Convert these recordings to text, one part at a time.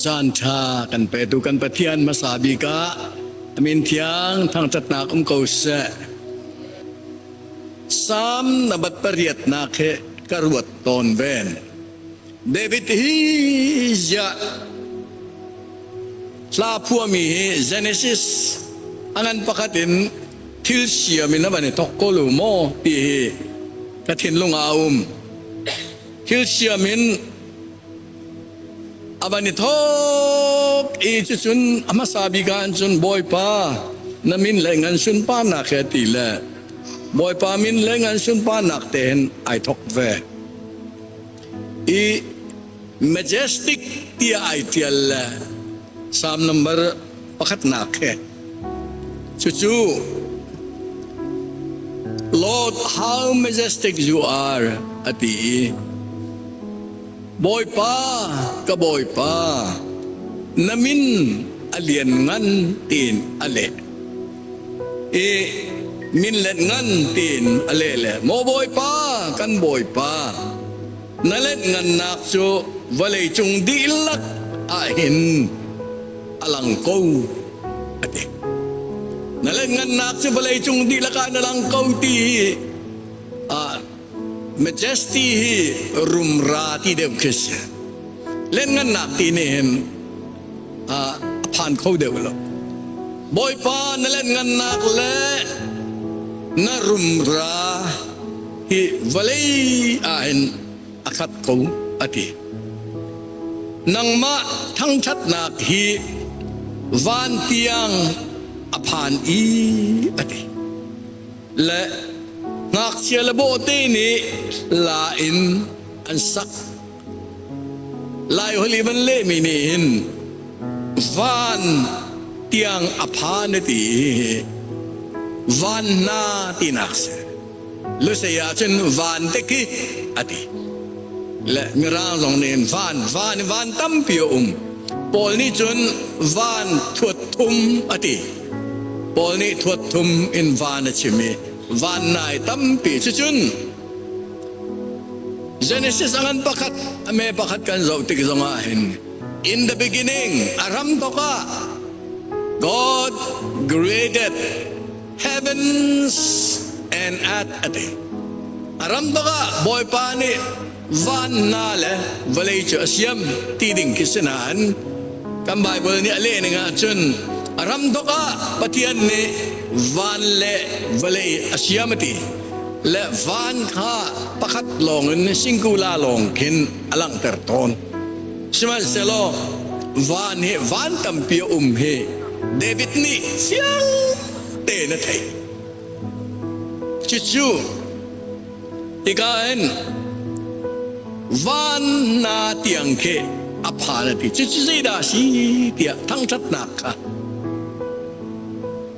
Caan ṭha kan petu kan Pathian hmasa bik ah amin thiang thangṭhatnak um ko seh. Salm na bat pariatnak he ka ruat tawn ven. David hi ziah hla phuami hi Genesis anan pakhat in thil siam in a van i thok ko lu maw ti hi ka thinlung ah a um thil siam in a van i thok i cu cun a hmasa bik ah cun bawipa na min le ngan sunparnak he ti le bawipa min le ngan sunparnak tein ai thok ve i majestic tiah ai ṭial le Salm number pakhatnak he cucu Lord how majestic you are a ti i Bawipa ka Bawipa na min a lian ngan tiin a leh i min let ngan tiin a leh le maw bawipa kan bawipa na let ngannak cu vawlei cung dihlak ah hin a lang ko a ti na let ngannak cu vawlei cung dihlak ah na lang ko ti ah majesty hi rumra ti deuh khi si let ngannak ti nih hin ah a phan kho deuh lo. Bawipa na lenhngannak le na rumra hi vawlei ah hin a khat ko a ti. Nangmah thangthatnak hi van tiang a phan i a ti. Le ngakchia le bawhte nih la in an sak Laihol i van lehmi nih hin van tiang a pha na ti i van hna tinak si. Lusei ahcun van te khi a ti. Le mirang zong nih van van van tampi a um. Paul nih cun van thuat thum a ti. Paul nih thuat thum in van a chim i van nai tampi cu cun Genesis a ngan pakhat, a me pakhat kan zoh tik zongah hin in the beginning a ram tok ah God created heavens and earth a ti. A ram tok ah Bawipa nih van hna le vawlei cu a siam ti ding khi si nain kan Bible nih a leh ning ahcun a ram tok ah Pathian nih van le vawlei a siam a ti. Le van kha pakhat lawng in singkula lawng khin a langhter tawn. Sihmanhsehlaw van hi van tampi a um hi David nih fiang tein a theih. Cucu hika in van na tiang khi a phan a ti. Cucu zeidah a si tiah thangṭhatnak kha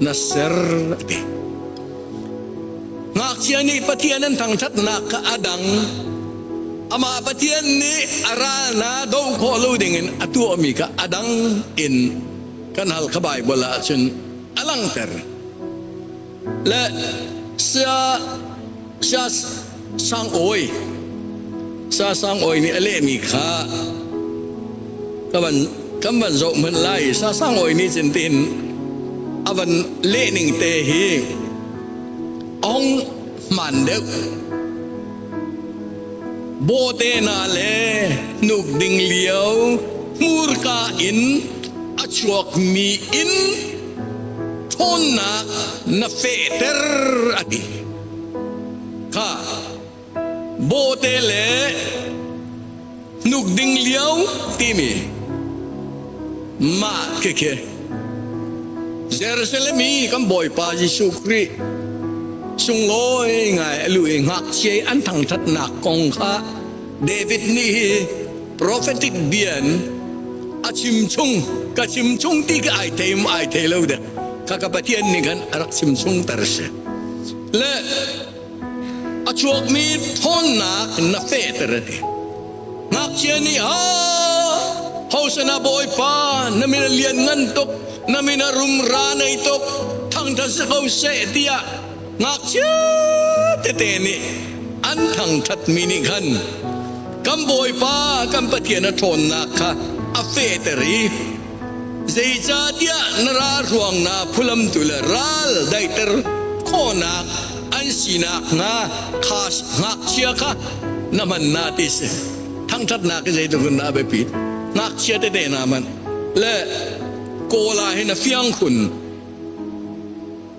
na ser te. Ngakchia nih Pathian an thangṭhatnak kha a dang. Amah Pathian nih a ral na do khawh lo dingin a tuahmi kha a dang in kan hal kha Baibal ah cun a langhter. Le sia Sasangawi Sasangawi nih a lehmi kha ka van kan van zoh hmanh lai Sasangawi nih cun tiin a van lehning te hi ong hman deuh bawte na le hnuk ding lio hmurka in a chuakmi in ṭhawnnak na fehter a ti. Khah bawhte le hnuk ding lio timi mah khekhe Jerusalem i kan Bawipa Jesuh Khrih sunglawi ngai alu i ngakchia an thangthatnak kong kha David nih hi prophetic bian a chim chung ka chim chung ti ka ai theim ai thei lo de kha ka pathian nih khan a rak chim chung tar si le a chuakmi ṭhawnnak na fehter a ti. Ngakchia nih ah house na bawipa na min a lianngan tuk na min a rumra nei tuk thangṭhat si ko seh tiah ngakchia tete nih an thangṭhatmi nih khan kan bawipa kan pathian a ṭhawnnak kha a fehter i Zeicahtiah na ral ruangnak phulamtu le ral daihter khawhnak an sinak hnga kha ngakchia kha na hman na ti si. Thangṭhatnak hi zeitluk in dah a biapi. Ngakchia tete na hman. Le kawl ah hin a fiang khun.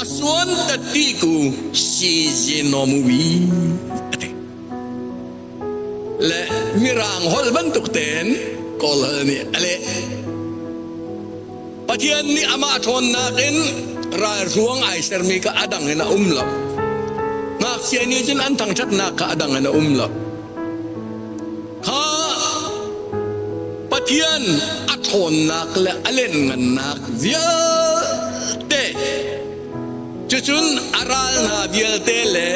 A suan ta ti ku si je nom wi a ti. Le mirang hol bantuk ten Kawl nih a leh. Pathian nih amah ṭhawnnak in ralhruang ai sermi kha a dang in a um lo. Ngakchia nih cun an thangṭhatnak kha a dang in a um lo. kha Pathian a ṭhawnnak le a lianngannak vialte cucun a ral hna vialte le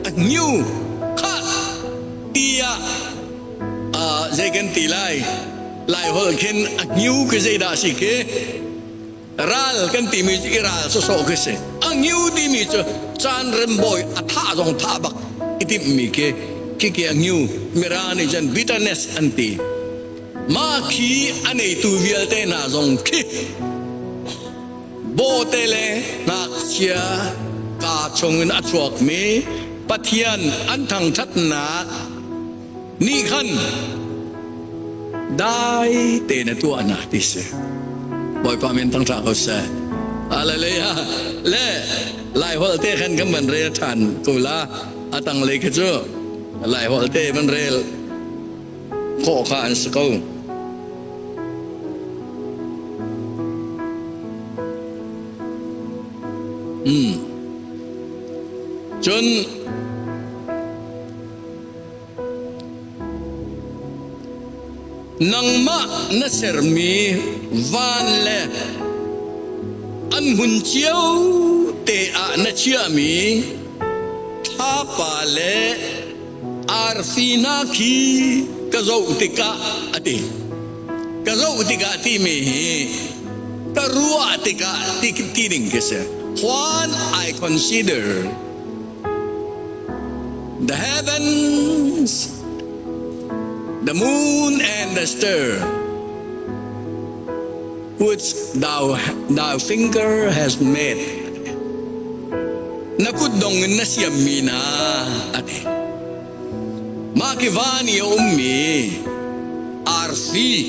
a hnu khat tiah uh, zei kan ti lai lai holh khin a hnu khi zeidah a si khi ral kan timi cu i ral sawsawh khi si a ngiu timi cu caan rembawi a thah zong thah bak i timhmi khi khike a ngiu mira nih cun bitterness an ti mah khi a neitu vialte hna zong khi bawte le ngakchia kaa chung in a chuakmi pathian an thangṭhatnak nih khan dai tein a tuah hna ti si bawipa min thangṭha ko seh hallelujah le lai holh te khan kan van rel ṭhan ko la a tanglei kha cu lai holh te van rel khawh kha an si ko mm cun Nangmah na sermi van le an hmun cio te ah na chiahmi thlapa le arfi hna khi ka zoh tikah a ti ka zoh tikah timi hi ka ruah tikah ti ding ka si when I consider The heavens, the moon and the star which thou, thy finger has made. Na kut dong in na siammi na ati. Mah ki van i a ummi arsi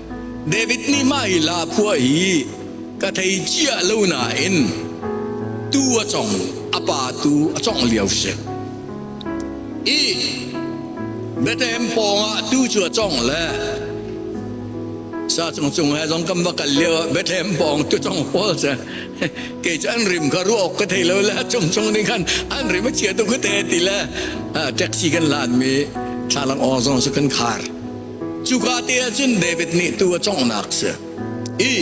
David nih mah i lahkhua hi ka thei ciah lo nain tuu a cong, a pa tu a congh lio si. I Bethlehem pawngah tuu cu a cong le sa cung cung he zong kan va kal lio ah Bethlehem pawng tu cong pawl se kei cu an rim kha ruah awk ka thei lo le a chung chung ning khan an rim a chia tuk ka te ti le taxi kan lan mi thlalang awng zong cu kan khar. Cuka te ah cun David nih tuu a conghnak a si i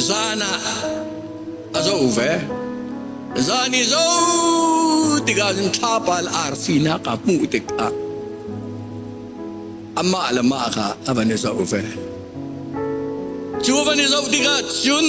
zan ah a zoh ve. Zan i zo tikah cun thlapal arfinak a hmuh tikah amah le mah kha a van i zoh ve. Cu van i zoh tikah cun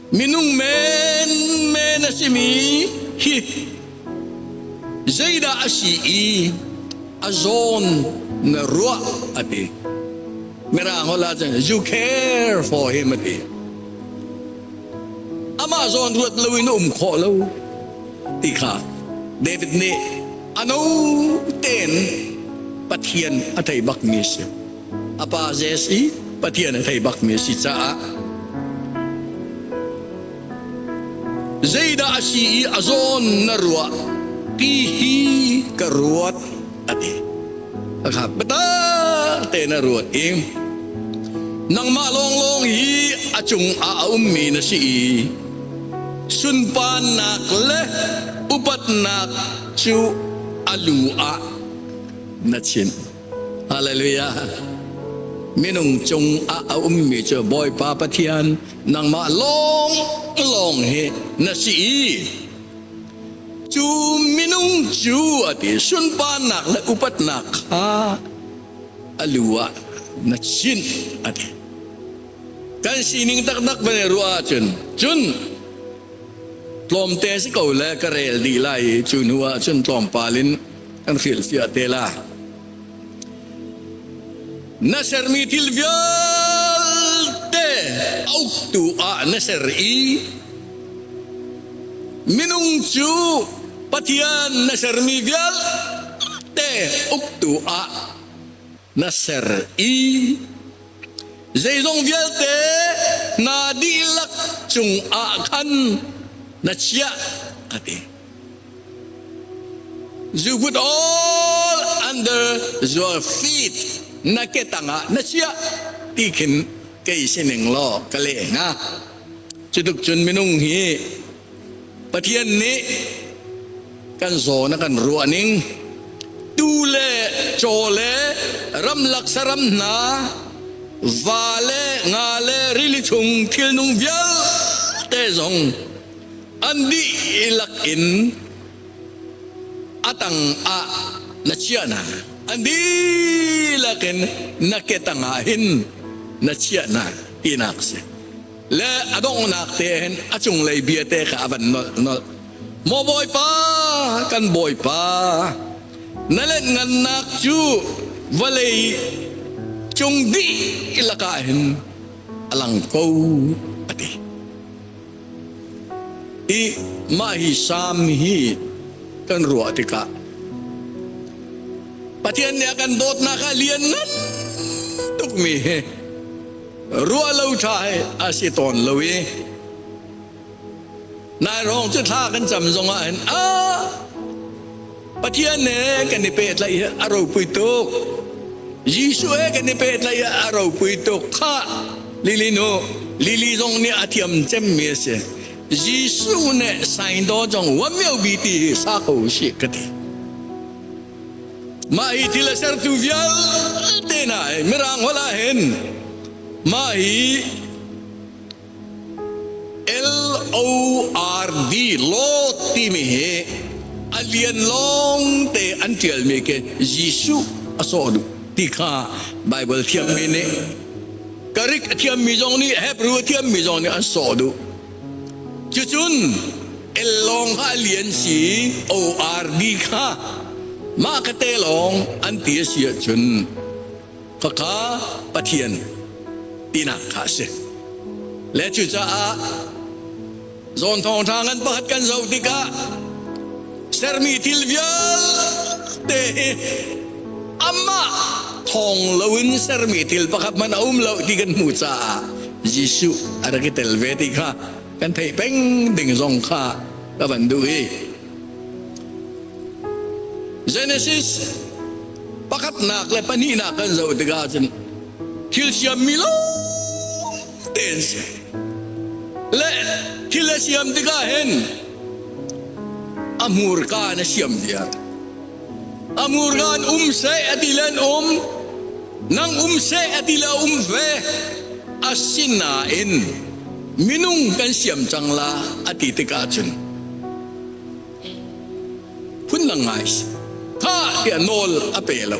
Minung menmen a simi hi zeidah a si i a zawn na ruah a ti. Mirang hola cun you care for him a ti. Amah zawn ruat lo in um khawh lo ti kha David nih ano ten Pathian a thei bak mi a si. a pa Zeus i Pathian a thei bakmi a si caah zeidah a si i a zawn na ruah ti hi ka ruat a ti a kha bata te na ruat in nangmah lawnglawng hi a cungah a ummi na si i sunparnak le upatnak cu a lu ah na chin Hallelujah. Minung cung ah a ummi cu Bawipa Pathian nangmah lawng lawng hi na si i cu minung cu a ti sunparnak le upatnak kha a lu ah na chin a ti. Kan sining taktak van i ruah ahcun cun tlawmte si ko le ka rel dih lai i cu hnu ah cun tlawmpal in an hrilhfiah te la na sermi thil vialte a uktu ah na ser i minung cu pathian na sermi vialte uktu ah na ser i zeizong vialte na dihlak cungah khan na chiah a ti. You put all under your feet na ke tangah na chiah ti khin kei sining law ka le nga. Cutuk cun minung hi Pathian nih kan zawn a kan ruah ning tu le caw le ramlak saram hna va le nga le rili chung thilnung vialte zong an dihlak in atang ah na chiah na an dihlak in na ke tang ah hin na chiah na tinak si le a donghnak tein a cunglei biate kha a van nolh nolh maw bawipa kan bawipa na let ngannak cu vawlei cung dih lakah hin a lang ko a ti i mah hi sam hi kan ruah tikah pathian nih a kan dawtnak ah lian ngan tukmi hi ruah lo ṭha hi a si tawn lo i nai rong cu thla kan cam zongah hin a Pathian ne kan i pehtlaih hi a ropui tuk Jesuh he kan i pehtlaih hi a ropui tuk kha lili nu lili zong nih a thiam cemmi a si Jesuh nih sain daw zong wamio bi ti hi sa ko usih ka ti Mah hi thil a sertu vialte hna Mirang holh ah hin mah hi L-O-R-D Lord timi hi a lian lawngte an ṭialmi khi Jesuh a sawh duh ti kha Baibal thiammi nih ka rik a thiammi zong nih Hebrew a thiammi zong nih an sawh duh Cucun el lawng kha a li an si i oarmi kha mah ka te lawng an ti a si ahcun faka Pathian tinak kha a si. Le cucaah zawn thawngṭha ngan pakhat kan zoh tikah sermi thil vialte hi Amah thawng loin sermi thil pakhat hmanh a um lo ti kan hmuh caah Jesuh a rak i tel ve ti kha kan theih peng ding zong kha ka van duh i Genesis pakhatnak le pahnihnak kan zoh tikah cun thil siam mi lawngte an si le thil a siam tikah hin a hmurka in a siam viar A murgan um seh a ti le an um, nang um seh a ti le a um ve. Asinain minung kan siam cang la a ti tikah cun phun na ngai tha tia nawl a pe lo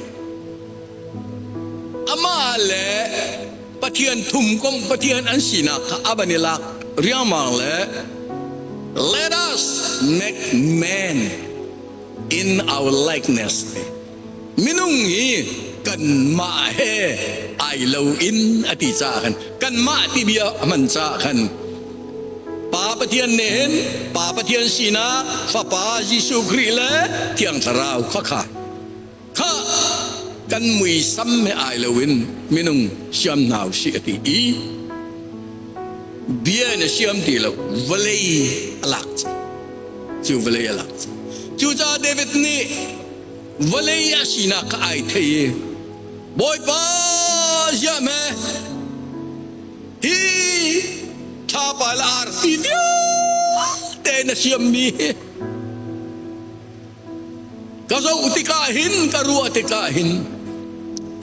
ama le pathian thum kong pathian an sinak kha aban i lak riangmang le let us make man in our likeness minung hi kanmah he ai loin a ti caah khan kanmah timi a hman caah khan Pa Pathian nen Pa Pathian sinak Fapa Jesuh Khrih le Thiang Thlarau khakha kha kan muisam he ai loin minung siam hna si a ti i bia in a siam ti lo vawlei a lak cu vawlei a lak cucaah David nih vawlei a sinak ka ai thei i Bawipa siam he hi thlapal arti tio te na siam mi hi Ka zoh tikah hin ka ruah tikah hin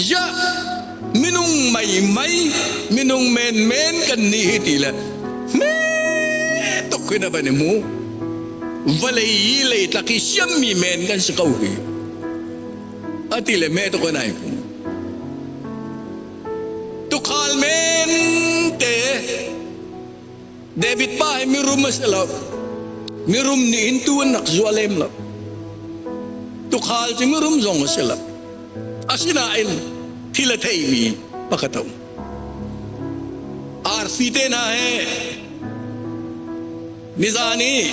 ya minung mei mei minung men men kan ni hi ti le me tuk hin a van i mu vale i lei tlak i siam mi men kan si ko hi a ti le me tuk anai pu tukhal men te David pa hi mirum a si lo. Mirum nih in tu an rak zuah lem lo. Tukhal cu mirum zong a si lo. Asinain thil a theimi pakhat a um. Arfi te hna he mizan i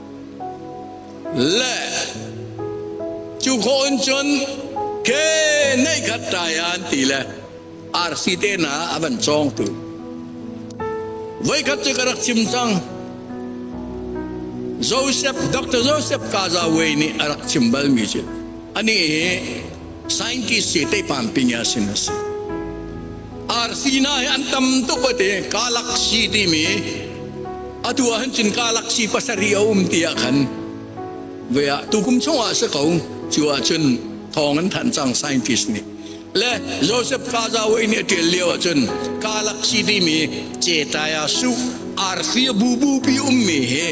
Le cu khawh in cun ke neih khat ṭai an ti le arsi te hna a van cawngtu voikhat cu ka rak chim cang Joseph Dr. Joseph Kazawe nih a rak chim balmi cu anih hi scientist si teipam ping a sin a si Arsina hi an tam tuk ate Galaxy timi atu ah hin cun Galaxy pasarih a um tiah khan ve ah tukum chungah si ko cu ah cun thawng an thanh cang scientist nih le Joseph Kazawa nih a ṭial lio ah cun Galaxy timi cetaya su RC bu bu pi ummi hi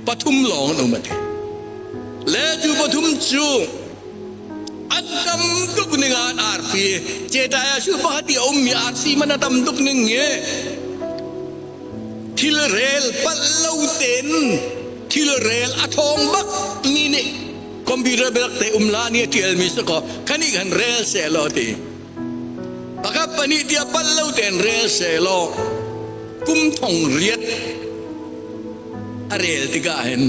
pathum lawng an um ate le cu pathum cu An tam tuk ning ah an arfi. Cetai ah shu pakhat i a ummi arsi man a tam tuk ning hi thil rel palh lo tein thil rel a thawng bak ni nih computer belak te um la ni a tialmi sa ko khani kan rel se lo ti pakhat pani tia pal lo ten rel se lo kum thong riat a rel tika hen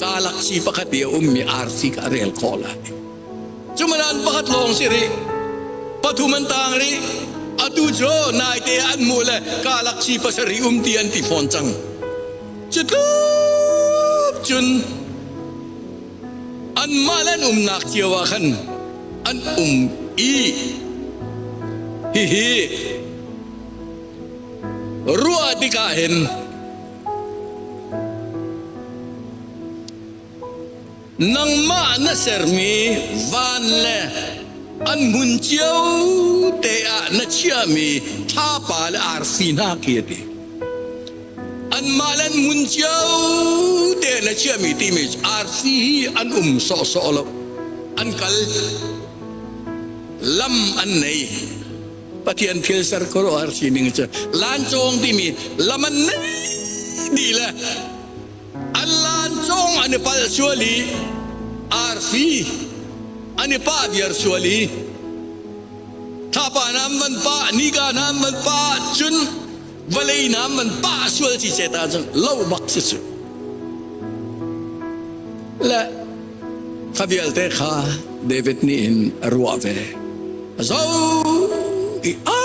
Galaxy pakhat i a ummi RC kha a rel khawh lai. Cu madan pakhat lawng si rih. Pathum an tang rih. Atu cu naite ah an hmuh le galaxy pasarih um ti an ti fawn cang. Cu tluk cun anmah le an umnak cio ah khan an um i hihi ruah tikah hin Nangmah na sermi van le an hmun cio te ah na chiahmi thlapa le arfi hna khi a ti. Anmah le an hmun cio te na chiahmi timi cu arfi hi an um sawhsawh lo. An kal. Lam an nei. Pathian thilser khuaruahhar sining cu lancawng timi lam an nei le an lancawng an i palh sual i arfi an i pah viar sual i thapa nan van pah nika nan van pah cun vale nam man pa sual ci se ta cun lo bak si cu le kha vialte kha David nih in a ruah ve a zo i a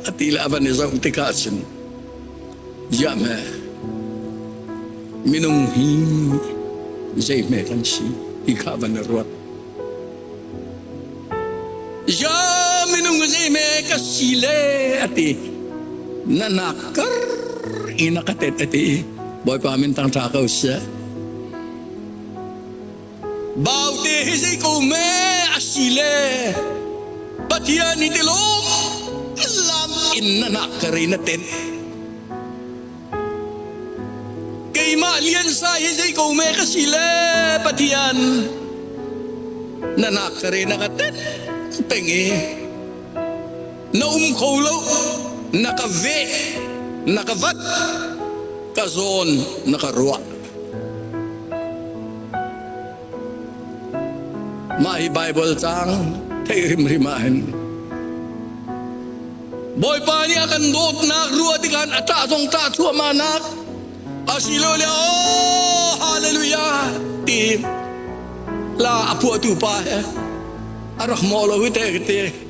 a ti la van i zo tikah cun ya me minung hi zei hme kan si ti kha van i ruat Ya minung zi me ka si le ati na nak kar in ka tet ati bawipa min tang tha ko se bau te hi zi ko me asile pathian ni ti lom lam in na nak kari na ten Keimah liansa hi zei ko me ka si le Pathian na nak ka re na ka tet peng i na um kho lo na ka ve na ka vat ka zawn na ka ruah Mah hi Baibal caang theih hrimhrim ah hin Bawipa nih a kan dawtnak ruah tikhan a ṭah zong ṭah thuahmahnak asiloah oh hallelujah ti la a phuahtu pa he a rak mawh lo hi te ka ti.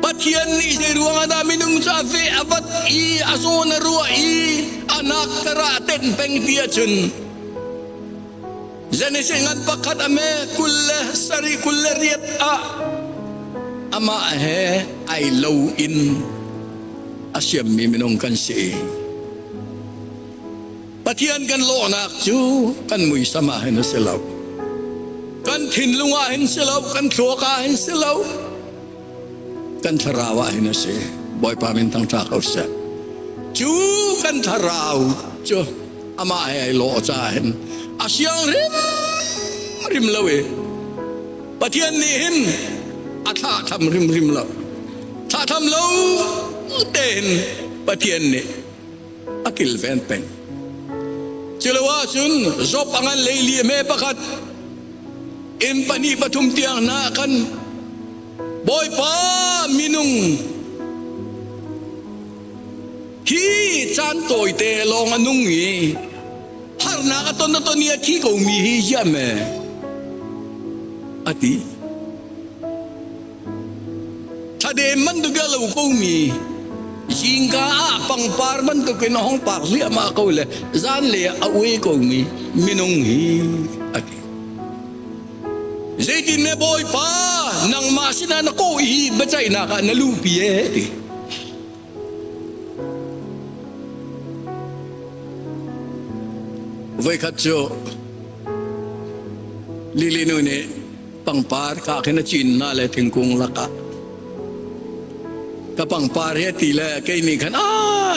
Pathian nih zeiruangah dah minung cu a feh a vat i a zawn a ruah i a nak kara a tenh peng ti ahcun Genesis ngan pakhat a me kul le sarih kul le riat ah amah he ai lo in a siammi minung kan si. Pathian kan lawhnak cu kan muisam ah hin a si lo. Kan thinlung ah hin si lo, kan thluak ah hin si lo, kan thlarau ah hin a si. Bawipa min thangṭha ko seh. Cu kan thlarau cu amah he ai lawh caah hin a siang rim rim lo i Pathian nih hin a thlahtham rim rim lo. Thlahtham lo te hin Pathian nih a kilven peng. Culoah cun Job a ngan leili me pakhat in pahnih pathum tiang na kan Bawipa minung hi caan tawite lawng a nung i harnak a ton a ton i a thi ko mi hi hiam e a ti Thladem bantuk a lo komi hingka ah pangpar bantuk in a hong pak hliahmah ko le zanlei ah a ue komi minung hi a ti. Zeitin ne Bawipa nangmah sinah na kawh hi biacaihnak ah na lupi e ti. Voi khat cu lili nu nih pangpar ka khin a cin na le thingkung lakah ka pangpar he ti le kei nih khan a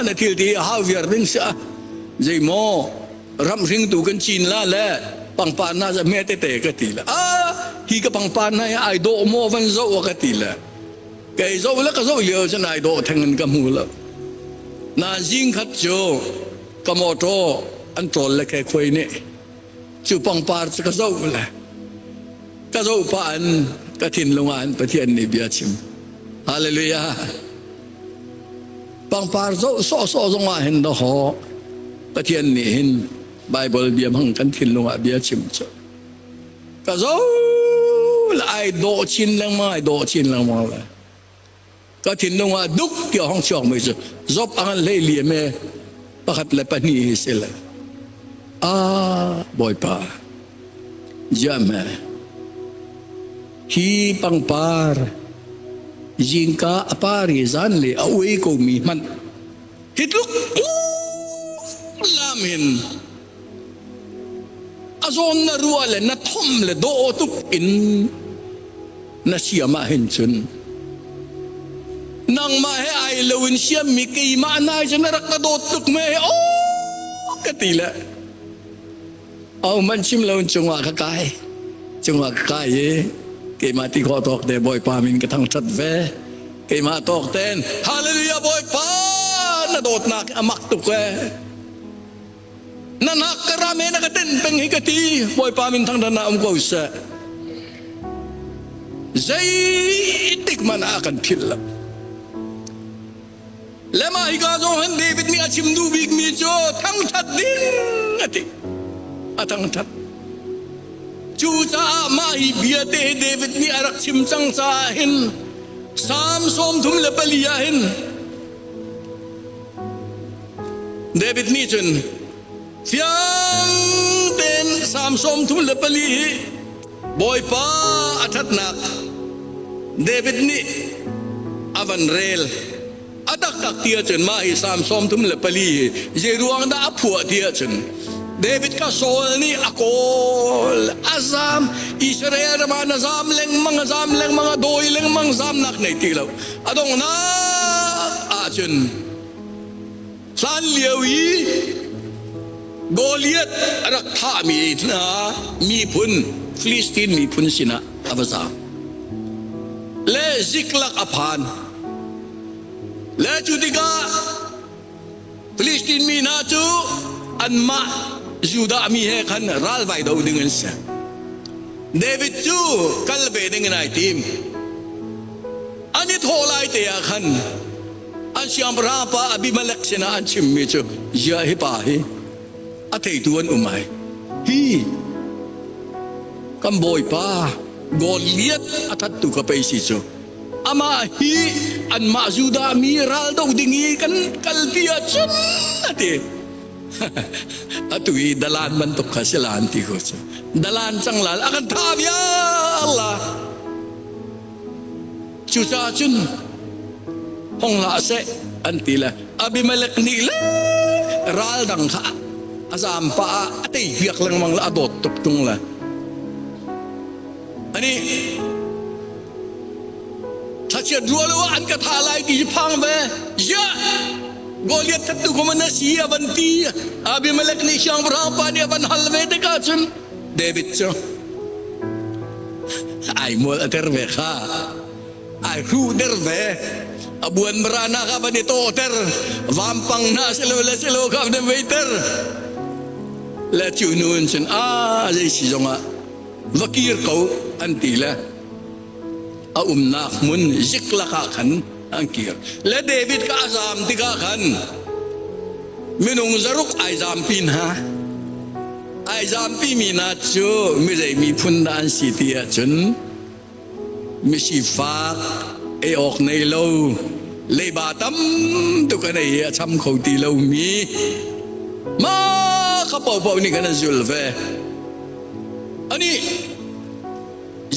na thil ti a hau viar ding si a zei maw ram hring tu kan cin la le pangpar na za me te te ka ti le a hi ka pangpar na ai do mo van zo ka ti le kei zo le ka zo lio chan ai do theng in ka mu la na jing khat chu ka motor an trol le ke khoi ne cu pangpar cu ka zoh le ka zoh pah in ka thinlung ah in Pathian nih bia chim hallelujah pangpar zoh sawhsawh zong ah hin na hawh Pathian nih hin Bible bia hmang kan thinlung ah bia chim cu ka zo la ai dawh chin lengmang ai dawh chin lengmang le ka thinlung ah duk ti hong chuak mi cu zop a han lei liam e pakhat le pahnih hi si le a bawipa jam he hi pangpar zingka apari zan le a ui ko mi hmanh hitluk lam in A zawm na ruah le na thom le dawh tuk in na siam ah hin cun nangmah he ai lo in siam mi keimah na hi na rak ka dawt tuk me he o ka ti le au man chim lo in cungah ka kai cungah ka kai e keimah ti kho tawk te bawipa min ka thang that ve keimah tawk ten hallelujah bawipa na dawt nak amak tuk e nanak ka ra me na ka ten peng hi ka ti bawipa min thang dan na um ko se zei tik man a kan phil lo lema hi ka zo han david mi a chim du bik mi chu thang that ding ati a thang that cu caah ma hi bia te david mi a rak chim cang ca hin sam som thum le pali ah hin David nih cun fiang tein Salm sawmthum le pali hi Bawipa a ṭhatnak David nih a van rel. A taktak ti ahcun mah hi Salm sawmthum le pali hi zeiruang dah a phuah ti ahcun David ka Saul nih a kawl a zam Israel ram ah na zam lengmang a zam lengmang a dawi lengmang zamnak nei ti lo a donghnak ahcun Hlan lio i Goliath a rak thahmi hna miphun Filistin miphun sinah a va zaang. Le ziklak a phan. Le cu tikah Filistin mi hna cu anmah Judah mi he khan ralvai do ding an si. David cu kal ve ding in ai tim. An i thawh lai te ah khan an siangpahrang pa Abimelek sinah an chimmi cu ziah hi pa hi a theitu an um ai hi kan bawipa Goliath a thattu ka pei si cu amah hi anmah Judah mi ral do ding i kan kalpi ahcun ati atu i dalan bantuk kha si lan ti ko cu dalan canglal a kan tha vial Cucaah cun hong hlah seh an ti le Abimelek nih le ral dang kha a zaam pah ah a tei hwiak lengmang le a dawt tuk tung le ani thlachiat ruah lo ah an ka tha lai ti phang ve ya Goliath that tu kuma na si avan ti Abimelek nih siangpahrang pa nih avan hal ve te ka cun David cu ai mual a ter ve kha ai hruh der ve a buan marana ka van i to ter vampang na se lo le se lo ka nem vei ter le chu nu in sin a zei si zong ah va kir ko an ti le a umnak mun zik laka khan an kir. Le David ka zam tikah khan minung zaruk ai zampi hna. Ai zampi mi hna cu mizei miphun dah an si ti ahcun misifak ei awk nei lo leiba tam tuk an ei i a cham kho ti lo mi mah kha paohpaoh nih kan an zul ve. Anih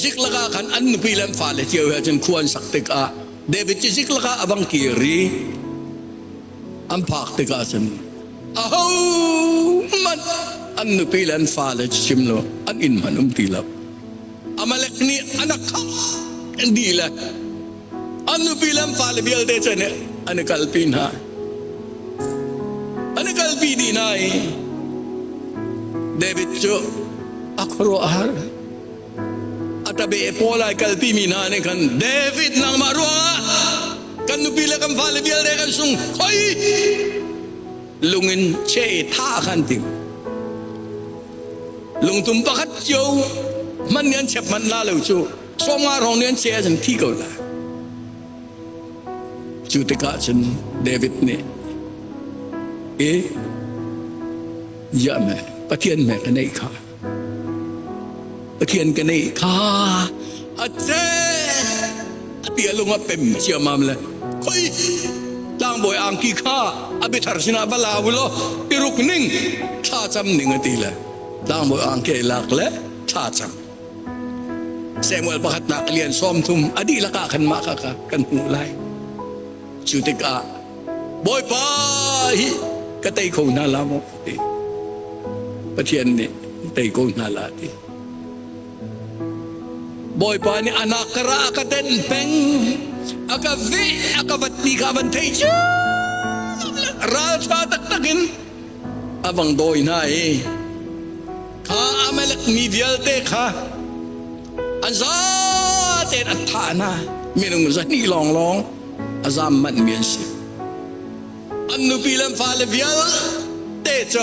zik laka khan an nupi le an fale cio he cun khua an sak tikah David cu zik laka a bang kiri an phak tikah cun aho hmanh an nupi le an fale cu chim lo an inn hman um ti lo Amalek nih anak kha an di le an nupi le fale vialte cu an i kalpi hna an i kalpi dih hna i David cu a khuaruahhar a tabe pawl ai kalpi mi hna nih khan David nangmah ruangah kan nupi le kan fale vialte kan sung khoi lung in che tha khan ding lungtum pakhat cio hman ni an chep hman la lo cu Chawma rong nih an cheh ah cun thi ko la. Cu tikah cun David nih e ya me pathian me ka nei kha pathian ka nei kha a che ati alung a pem chiamam le khoi tlangbawi ang ki kha abithar sinah bala ulo iruk ning tha cham ning ati le tlangbawi ang ke lak le tha cham Samuel pakhatnak a lian sawm thum a dihlak ah kanmah kha kan hmuh lai. Cu tikah Bawipa hi ka tei kho hna la maw ti Pathian nih tei ko hna la ti Bawipa nih anak ka ra a ka den peng a ka ve a ka vat ni kha van thei cu raltha taktak in A vang dawi hna i kha Amalek mi vialte kha an zatein a thah hna minung zahnih lawnglawng a zam manhmi an si. An nupi le fale vialte cu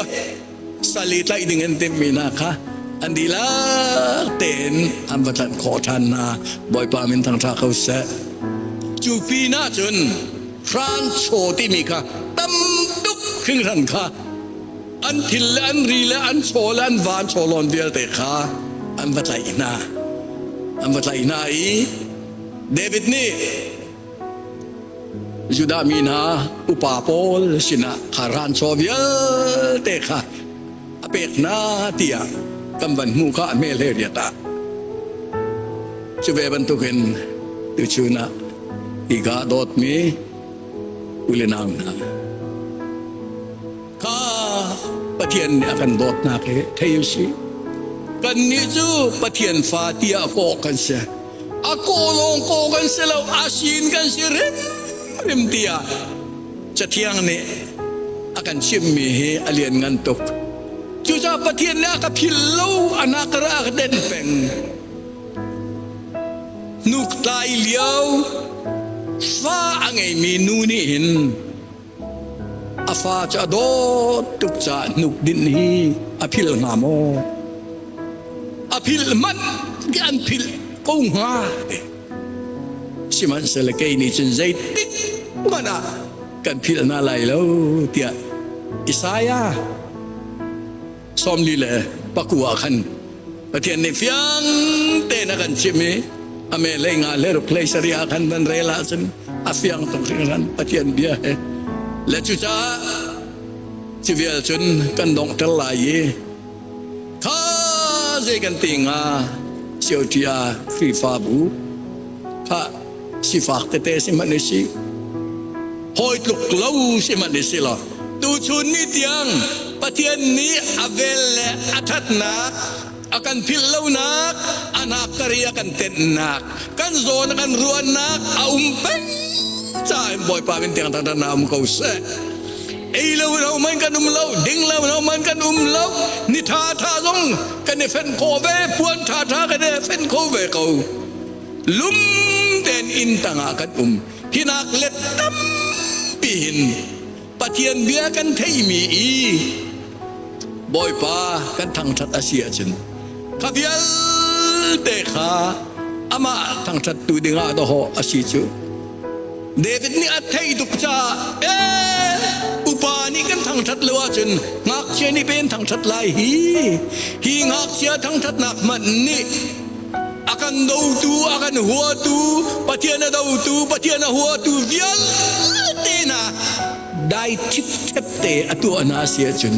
sal i tlaih ding an timhmi hna kha an dihlak tein an va tlanh khawh ṭhan hna. Bawipa min thangṭha ko seh. Cu pin ah cun hranchaw timi kha tam tuk hringhran kha an thil le an ri le an chaw le an van chaw lon vialte kha an va tlaih hna an va tlaih hna i david nih judah mi hna upa pawl sinah kha ran chaw vialte kha a pek hna tiah kan van hmuh kha a hmeh le riat ah cu ve bantuk in tuchun ah ika dawtmi u le nau hna kha pathian nih a kan dawt hna ke thei u si kannih cu pathian fa tiah kawh kan si a kawh lawng kawh kan si lo a sin kan si rim rim tiah Cathiang nih a kan chimhmi hi a lianngan tuk. Cucaah Pathian le a ka phil lo anak ka ra ka den peng. Nuklai lio fa a ngeimi nu nih hin a fa cu a dawt tuk caah hnuk din hi a phil hnga maw? A phil hmanh ki an phil ko hnga. Sihmanhsehlaw kei nih cun zeitik hmanh ah kan philh hna lai lo tiah Isaiah sawmli le paku ah khan Pathian nih fiang tein a kan chimh i a melei nga le ruklei sari ah khan nan rel ahcun a fiang tuk hringhran Pathian bia he le cucaah ci vial cun kan donghter lai i Tha zei kan ti hnga sioṭia Khrihfabu kha sifak tete si hmanh u si. Hawi tluk lo si hmanh u si law tuchun ni tiang Pathian nih a vel le a ṭhatnak a kan philh lonak a hnakkari a kan tenhnak kan zawn a kan ruahnak a um peng caah hin Bawipa min tiang tangdornak um ko seh. ei lo lo man kan um lo ding lo lo man kan um lo ni tha tha zong kan i fen kho ve puan tha tha kan i fen kho ve ko lum ten in tanga kan um hinak le tam pi hin pathian bia kan theimi i bawipa kan thangthat asia chin kha vial te kha ama thangthat tu dingah do ho asi chu David nih a theih tuk caah, ee, upa nih kan thangṭhat lo ahcun ngakchia nih pe an thangṭhat lai hi. Hi ngakchia thangṭhatnak hmanh nih a kan dotu, a kan huatu, Pathian a dotu, Pathian a huatu vialte hna dai ṭhipṭhep te a tuahnak a si ahcun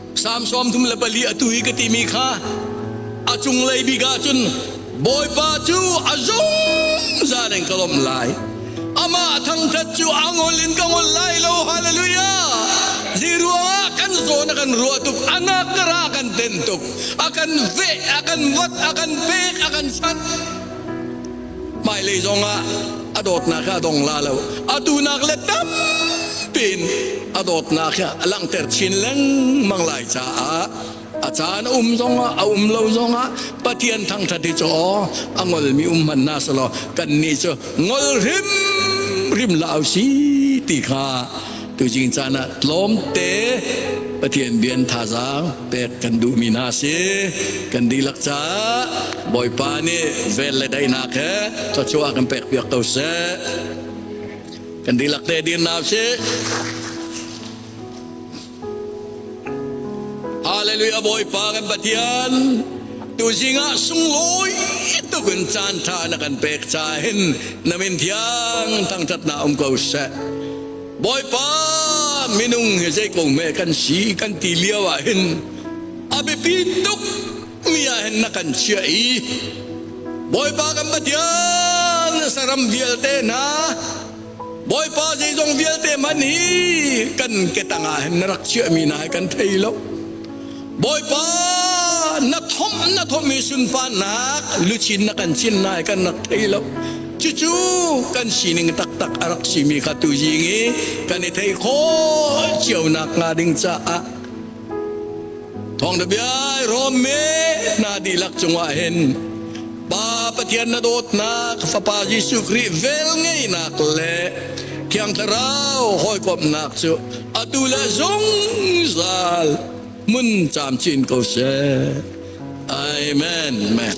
Psalm sawm thum le pali atu hi ka timi kha a cunglei bik ah cun Bawipa cu a zungzal in ka lawmh lai amah thangṭhat cu a ngol in ka ngol lai lo hallelujah zi ruangah kan zawn a kan ruah tuk a nakara a kan den tuk a kan veh a kan wat a kan pek a kan sat hmailei zongah a dawtnak kha a dong la lo atu nak le tam tein a dawtnak kha a langhter chin lengmang lai caah a caan a um zongah a um lo zongah pathian thangthat hi cu a ngolmi um hman na selaw kan ni cu ngol hrim rim la au si ti kha tu jing caan ah tlawmte pathian bian thazaang pek kan duhmi hna si kan dihlak caah Bawipa nih vel le daihnak he thluachuah kan pek piak ko seh kan dihlak te dir na si Hallelujah Bawipa kan Pathian tu zingah sunglawi tukin caan tha na kan pek cahin namin thiang thangthat na um ko seh Bawipa minung hi zeiko me kan si kan ti lio ah hin a biapi tuk mi ah hin na kan chia i Bawipa kan Pathian saram vialte hna Bawipa zeizong vialte man hi kan ketang ah hin na rak chia mi na hai kan thei lo Bawipa na thom na thommi sunparnak luchin na kan chin nai kan rak thei lo cucu kan sining taktak a rak simi kha tu zing i kan i thei khawl cio nak nga ding caah thong da bia rom me na di lak cungah hin Pa Pathian na dawtnak Fapa Jesuh Khrih velngeihnak le Thiang Thlarau hawikomhnak cu atu le zungzal mun camcin ko seh. Amen. Amen.